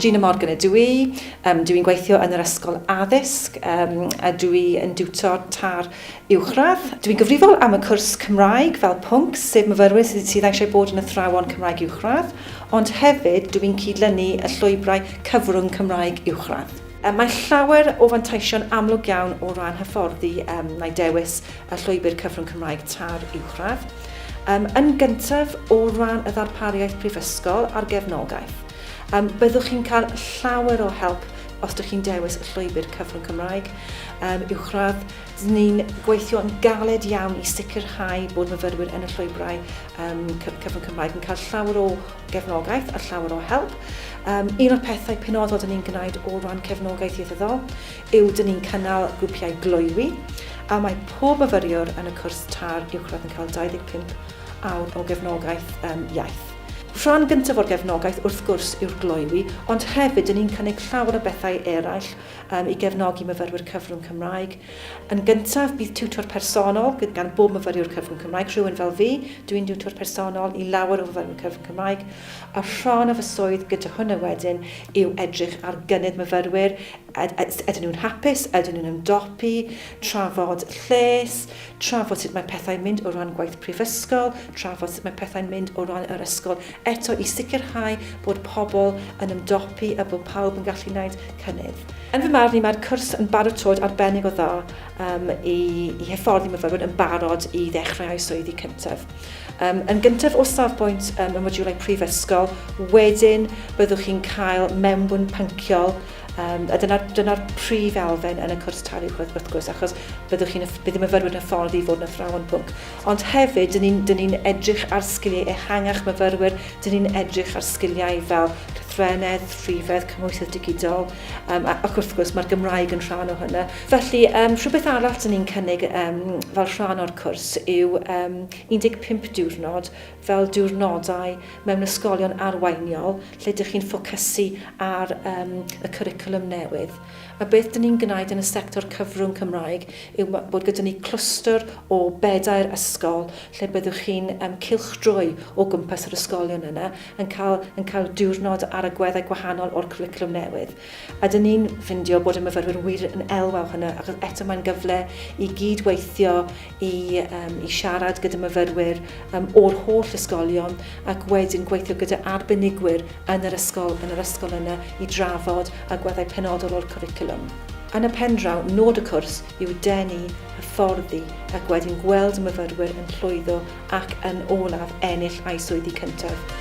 Gina Morgan ydw i, um, dw i'n gweithio yn yr ysgol addysg um, a dw i yn diwtor tar uwchradd. Dw i'n gyfrifol am y cwrs Cymraeg fel pwnc, sef myfyrwyr sydd, sydd eisiau bod yn athrawon Cymraeg uwchradd, ond hefyd dw i'n cydlynu y llwybrau cyfrwng Cymraeg uwchradd. Mae llawer o fanteision amlwg iawn o ran hyfforddi um, mae dewis y Llwybr Cyfrwng Cymraeg Tair Uwchradd, um, yn gyntaf o ran y ddarpariaeth prifysgol a'r gefnogaeth. Um, byddwch chi'n cael llawer o help os ydych chi'n dewis y llwybr cyfrwng Cymraeg um, uwchradd, ni'n gweithio yn galed iawn i sicrhau bod myfyrwyr yn y llwybrau um, cyfrwng Cymraeg yn cael llawer o gefnogaeth a llawer o help. Um, un o'r pethau penodol dyn ni'n gwneud o ran cefnogaeth ieithyddol yw dyn ni'n cynnal grwpiau gloywi a mae pob myfyriwr yn y cwrs TARR Uwchradd yn cael 25 awr o gefnogaeth yn iaith. Rhan gyntaf o'r gefnogaeth wrth gwrs yw'r gloywi ond hefyd dyn ni'n cynnig llawer o bethau eraill i gefnogi myfyrwyr cyfrwng Cymraeg. Yn gyntaf bydd tiwtor personol gan bob myfyriwr cyfrwng Cymraeg, rhywun fel fi, dw i'n diwtor personol i lawer o fyfyrwyr cyfrwng Cymraeg a rhan o fy swydd gyda hwnna wedyn yw edrych ar gynnydd myfyrwyr, Ydyn nhw'n hapus? Ydyn nhw'n ymdopi? Trafod lles, trafod sut mae pethau'n mynd o ran gwaith prifysgol, trafod sut mae pethau'n mynd o ran yr ysgol eto i sicrhau bod pobl yn ymdopi a bod pawb yn gallu wneud cynnydd. Yn fy marn i, mae'r cwrs yn baratoad arbennig o dda um, i, i hyfforddi myfyrwyr yn barod i ddechrau eu swyddi cyntaf. Um, yn gyntaf o safbwynt um, y modiwlau prifysgol, wedyn byddwch chi'n cael mewnbwn pynciol Um, a dyna'r dyna prif elfen yn y cwrs talu gwaith wrth gwrs, achos byddwch chi'n bydd y myfyrwyr yn hyfforddi i fod yn athrawon pwnc. Ond hefyd, dyn ni'n ni, ni edrych ar sgiliau ehangach myfyrwyr, dyn ni'n edrych ar sgiliau fel llythrenedd, rhifedd, cymhwysoedd digidol, um, ac wrth gwrs mae'r Gymraeg yn rhan o hynny. Felly, um, rhywbeth arall dyn ni'n cynnig um, fel rhan o'r cwrs yw um, 15 diwrnod fel diwrnodau mewn ysgolion arweiniol lle dych chi'n ffocysu ar um, y cwricwlwm newydd. A beth dyn ni'n gwneud yn y sector cyfrwng Cymraeg yw bod gyda ni clwstwr o bedair ysgol lle byddwch chi'n um, cylchdroi o gwmpas yr ysgolion yna yn cael, yn cael diwrnod ar agweddau gwahanol o'r cwricwlwm newydd. Ydyn ni'n ffindio bod y myfyrwyr wir yn elwa o hynna, achos eto mae'n gyfle i gyd-weithio i, um, i siarad gyda myfyrwyr um, o'r holl ysgolion ac wedyn gweithio gyda arbenigwyr yn yr ysgol, yn yr ysgol yna i drafod agweddau penodol o'r cwricwlwm. Yn y pen draw, nod y cwrs yw denu, hyfforddi ac wedyn gweld y myfyrwyr yn llwyddo ac yn olaf ennill eu swyddi cyntaf.